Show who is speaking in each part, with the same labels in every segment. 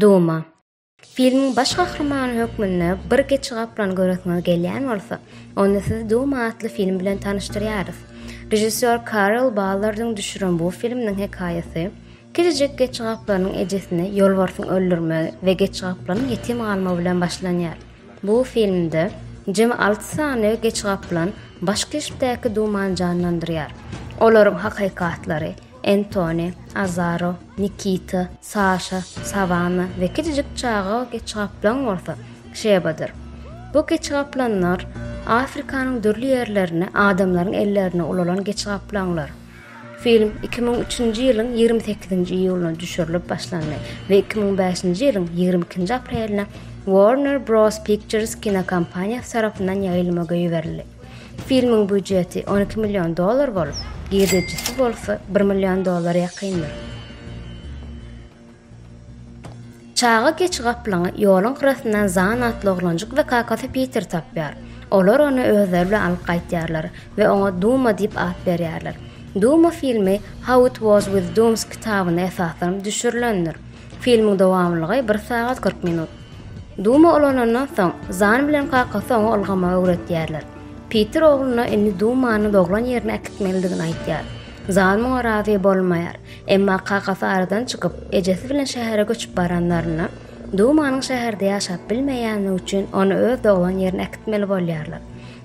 Speaker 1: Duma. Filmiň baş gahrymany hökmünde bir geçi gaplan göresiňiz gelýän bolsa, onda sizi Duma atly film bilen tanyşdyrýarys. Režissýor Karel Ballardyň düşüren bu filminiň hekaýasy Kiçijek geçigaplarynyň ejesini ýolbarsyň öldürmegi we geçigaplaryň ýetim galmagy bilen başlanýar. Bu filmde jemi alty sany geçigaplan baş keşpdäki dumany janlandyrýar. Olaryň hakyky atlary, Entoni, Azaro, Nikita, Saşa, Sawanna we kiçijik çaga geçigaplan bolsa, Şebadyr. Bu geçigaplanlar Afrikanyň dürli ýerlerine adamlaryň ellerine ulalan geçigaplanlar. Film iki müň üçünji ýylyň ýigrimi sekizinji iýulyna düşürilip başlandy we iki müň bäşinji ýylyň ýigrimi ikinji apreline Warner Bros. Pictures kinokompaniýasy tarapyndan ýaýylma goýberildi. Filmiň býujeti on iki million dollar bolup, girdejisi bolsa bir million dollara ýakyndyr. Çaga geçi gaplaňy ýoluň gyrasyndan Zan atly oglanjyk we kakasy Piter tapýar. Olar ony özleri bilen alyp gaýtýarlar we oňa Duma diýip at berýärler. Duma filmi How It Was With Dooms kitabyna esaslanyp düşürilendir. Filmiň dowamlylygy bir sagat kyrk minut. Duma ulanandan soň, Zan bilen kakasy oňa ylgamagy öwretýärler. Piter ogluna indi Dumany doglan ýerine äkitmelidigini aýtýar. Zan muňa razy bolmaýar. Emma kakasy aradan çykyp, ejesi bilen şähere göçüp baranlarynda, Dumanyň şäherde ýaşap bilmeýändigi üçin ony öz doglan ýerine äkitmeli bolýarlar.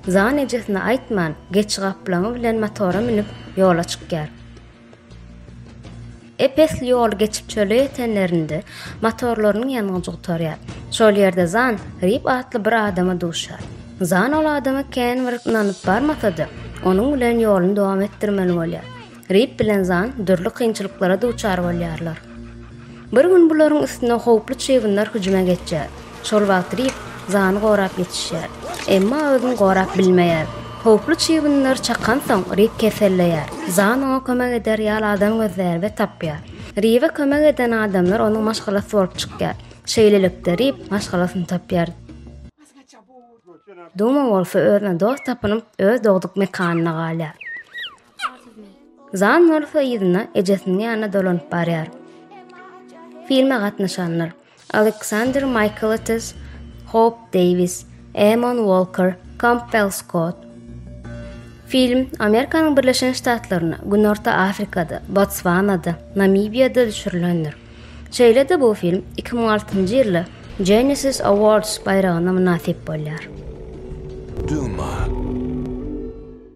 Speaker 1: Zan ejesine aýtman, geçi gaplaňy bilen motora münüp, ýola çykýar. Ep-esli ýoly geçip çöle ýetenlerinde, motorlarynyň ýangyjy gutarýar. Şol ýerde Zan Rip atly bir adama duşýar. Zan ol adama kän bir ynanyp barmasa-da, onuň bilen ýoluny dowam etdirmeli bolýar. Rip bilen Zan dürli kynçylyklara duçar bolýarlar. Bir gün bularyň üstüne howply çybynlar hüjüme geçýär. Şol wagt Rip Zany gorap ýetişýär. Emma özüni gorap bilmeýär. Howply çybynlar çakansoň, Rip keselleýär. Zan oňa kömek eder ýaly adam gözleýär we tapýar. Ribe kömek eden adamlar onuň maşgalasy bolup çykýar. Şeýlelikde, Rip maşgalasyny tapýar. Duma bolsa özüne dost tapynyp, öz dogduk mekanyna galýar. Zan bolsa yzyna ejesiniň ýanyna dolanyp barýar. Filme gatnaşanlar Aleksandr Maýkletis, Hop Deýwis, Emon Walker, Kampbell Skott. Film Amerikanyň Birleşen Ştatlarynda, Günorta Afrikada, Botswanada, Namibiýada düşürilendir. Şeýle-de bu film 2006-njy ýylda Genesis Awards baýragyna mynasyp
Speaker 2: bolýar.
Speaker 1: Duma.